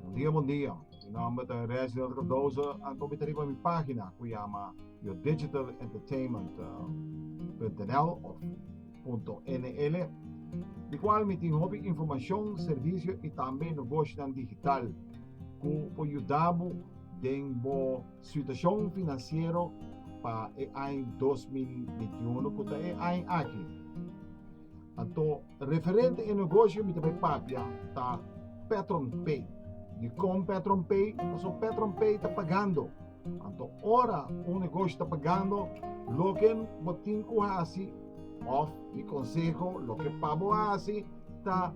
Bon dia bon dia, mi nomber ta Reginald Cardozo anto mi ta riba mi pagina cu yama yourdigitalentertainment.nl of .nl di cual mi tin hopi informacion, servicio y tambe nogoshonan digital cu por yuda bo den bo. Situashon finansiero pa e aña dos mil bienti i unu ku ta e aña aki. Anto referente e negoshi mi ta bai papia ta PetronPay. Di kon PetronPay? Paso PetronPay ta pagando. Anto ora un negoshi ta pagando, loke bo tin ku hasi Of mi conseho loke pa bo hasi ta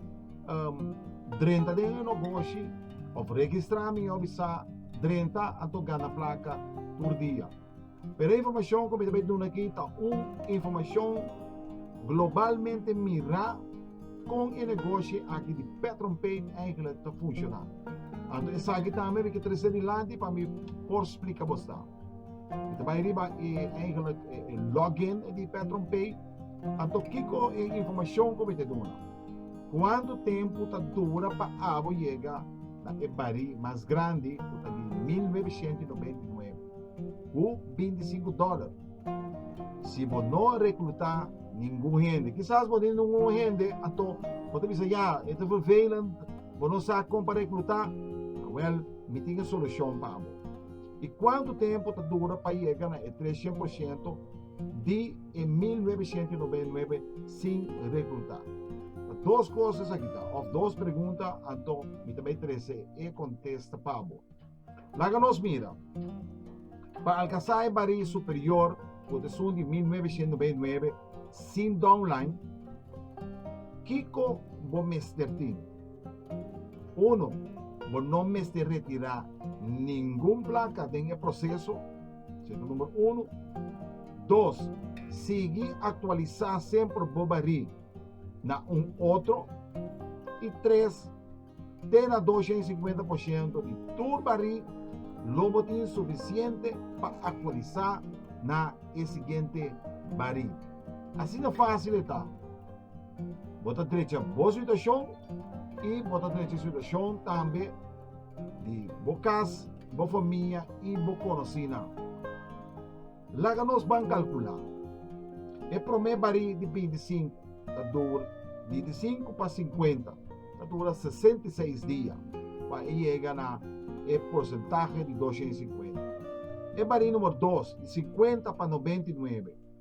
um, drenta den e noboshi of registra mi obi sa drenta anto gana placa tur dia. Pero informacion cu mi ta bay duna aki ta un informacion globalmente mira con e negoshi aki di Petron Paint eigenlijk ta funciona. Anto esaki tambe mi ke trece dilanti pa mi por splica bo sa. Mi ta bai riba e eigenlijk e, e login di PetronPay. Anto kiko e informashon ku mi te duna? Kuantu tempu ta dura pa abo yega na e barí mas grandi ku ta di 1999 ku 25 dòler? Si bo no rekrutá ningun hende, kisas bo tin un hende anto bo ta bisa ya e ta vervelend, bo no sa kon pa rekrutá, wel mi tin e solushon pa abo. I kuantu tempu ta dura pa yega na e tres shen por shento di e mil nuebeshento i nobenta i nuebe sin rekruta? Ta dos kos esaki ta, òf dos pregunta, anto mi ta bai trese e kontesta pa bo. Laga nos mira. Pa alkansá e barí superior ku ta esun di mil nuebeshento i nobenta i nuebe sin downline, kiko bo mester tin? Uno, Bo no mester retirá ningun plaka den e proseso, sino numero uno. Dos, Sigui aktualisá semper bo barí na un otro. I tres, Te na dos shen i sinkuenta por shento di tur barí lo bo tin sufisiente pa aktualisá na e siguiente barí. Asina fásil e ta. Bo ta drecha bo situashon i bo ta drecha situashon tambe di bo kas, bo famia i bo konosínan. Laga nos ban kalkulá. E promé barí di bintisinku ta dura di diisinku pa sinkuenta, ta dura sesenta i seis dia pa e yega na e porsentahe di dosha i sinkuenta. E barí número dos, di sinkuenta pa nobenta i nuebe,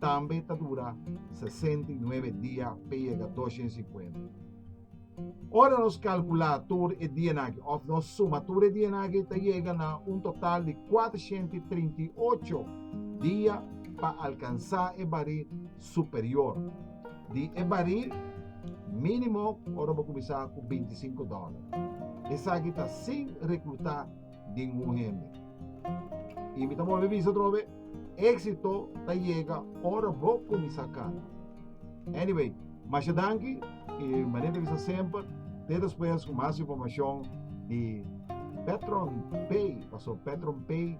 Tambe ta dura sesenta i nuebe dia pa e yega dos hende sinkuenta. Ora nos kalkulá tur e dianan akí, òf nos suma tur e dianan akí, ta yega na un total di kuatrashenta i trinta i ocho dia pa alkansá e barí superior di e barí mínimo ora bo kuminsá ku binti i sinku dòler. Esaki ta sin rekrutá den un hende. I mi ta bolbe bisa otro be, éxito ta yega ora bo kuminsá kanta. Anyway, masha danki i mané ta bisa semper te despues ku mas informashon di Petron Pay, paso Petron Pay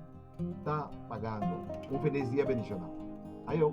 ta pagando. Un felis dia bendishonal. Ayo!